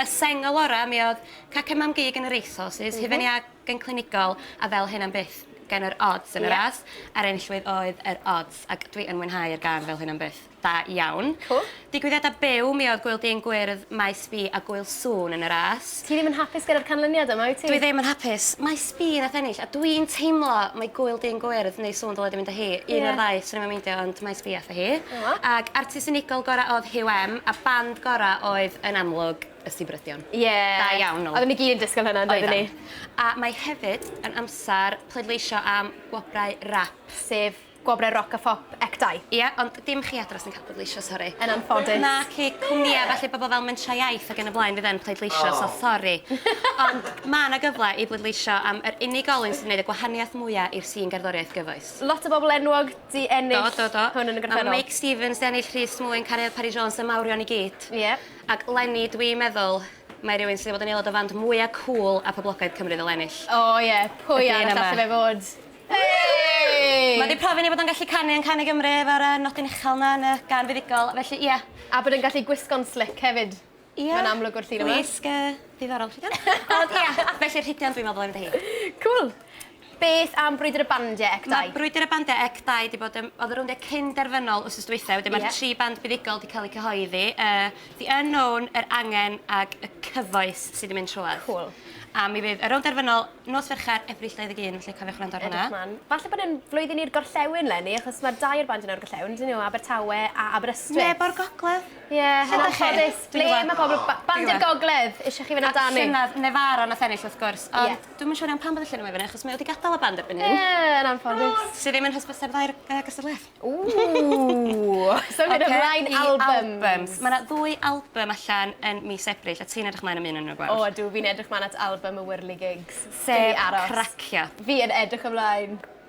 Y sengl orau mi oedd Cacen Mam Gig yn yr Aethos is hufen iâg yn clinigol a fel hyn am byth gan yr Odds yn y ras a'r enillwydd oedd yr Odds ac dwi yn mwynhau yr gân fel hyn am byth. Da iawn. Cŵl. Digwyddiadau byw mi oedd Gŵyl Dyn Gwyrdd, Maes B a Gŵyl Sŵn yn y ras. Ti ddim yn hapus gyda'r canlyniad yma wyt ti? Dwi ddim yn hapus. Maes B nath ennill a dwi'n teimlo mai Gŵyl Dyn Gwyrdd neu Sŵn dyle di mynd â hi. Un o'r ddau, swn i'm yn meindio ond Maes B ath hi. hi. Ac artist unigol gorau oedd Huw M a band gorau oedd yn amlwg y Sibryddion. Ie. Da iawn nhw. Oedden ni gyd yn disgwyl hynna yn doedden ni? Oeddan. A mae hefyd yn amser pleidleisio am gwobrau rap. Sef gwobrau roc a phop ECTAI. Ie, ond dim chi adra sy'n cael pleidleisio, sori. Yn anffodus. Naci, cwmnïau felly, bobl fel Mentrau Iaith ac yn y blaen fydd yn pleidleisio, so sori. Ond mae yna gyfle i bleidleisio am yr unigolyn sy'n gwneud y gwahaniaeth mwyaf i'r sîn gerddoriaeth gyfoes. Lot o bobl enwog 'di ennill... Do do do. ...hwn yn y gorffennol. Ma' Meic Stevens 'di ennill Rhys Mwyn, Cariad Parry Jones a mawrion i gyd. Ie. Ac 'leni dwi yn meddwl mae rywun sy 'di bod yn aelod o fand mwya cŵl a poblogaidd Cymru ddyle ennill. O ie, pwy arall alle fe fod? Hei! Ma' 'di profi ni bod o'n gallu canu yn Can i Gymru efo'r yy nodyn uchel 'na yn y gân fuddugol, felly ie. A bod e'n gallu gwisgo'n slic hefyd. Ia. Mae'n amlwg o'r llun yma. Gwisg yy ddiddorol chi 'di? Ond ia, felly rhidian dwi'n me'wl bo' fi mynd â hi. Cŵl. Beth am brwydyr y bandie ec dau? Ma' brwydyr y bandie ec dau 'di bod yn o'dd y rowndia cyn derfynol wsos dwytha wedyn ma'r tri band buddugol 'di ca'l eu cyhoeddi yy The Unknown, Yr Angen ag Y Cyfoes sy 'di mynd trwodd. Cŵl. A mi fydd y rownd derfynol nos Fercher, Ebrill dau ddeg un felly cofiwch wrando ar hwnna. Edrych mlan. Falle bod e'n flwyddyn i'r gorllewin 'leni achos ma'r dau o'r bandiau 'na o'r gorllewin on'd 'yn nhw? Abertawe a Aberystwyth. Neb o'r gogledd? Ie, yn anffodus, ble ma' pobl ba- Bandi'r Gogledd isio chi fyn' amdani? A llynadd Nefara nath ennill wrth gwrs Ie. ond dwi'm yn siŵr iawn pam bod y llun yma fyn 'yn achos mae o 'di gadal y band erbyn hyn. Ie, yn anffodus. Sy ddim yn hysbyseb dda i'r yy gystadleuaeth. Ww! Symud ymlaen i albums. Ocê i albums. Ma' 'na ddwy albym allan yn mis Ebrill a ti'n edrych mlaen am un o nw gwell. O ydw fi'n edrych mlan at albym y whirligigs. Sef Cracio. Fi yn edrych ymlaen.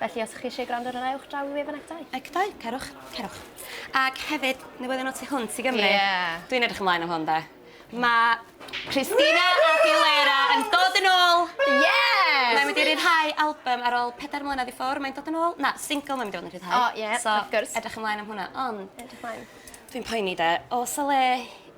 Felly os chi eisiau gwrando ar hwnna ewch draw i wefan Ecdau. Ecdau, cerwch, cerwch. Ac hefyd, newyddion o tu hwnt i Gymru. Ie. Dwi'n edrych ymlaen am hwn 'de. Ma' Christina Aguilera yn dod yn ôl! Yes! Mae'n mynd i ryddhau albym ar ôl pedair mlynedd i ffwr', mae'n dod yn ôl, na, single mae'n mynd i fod yn rhyddhau. O ie, wrth gwrs. So, edrych ymlaen am hwnna, ond... Edrych mlaen. Dwi'n poeni 'de, o's 'a le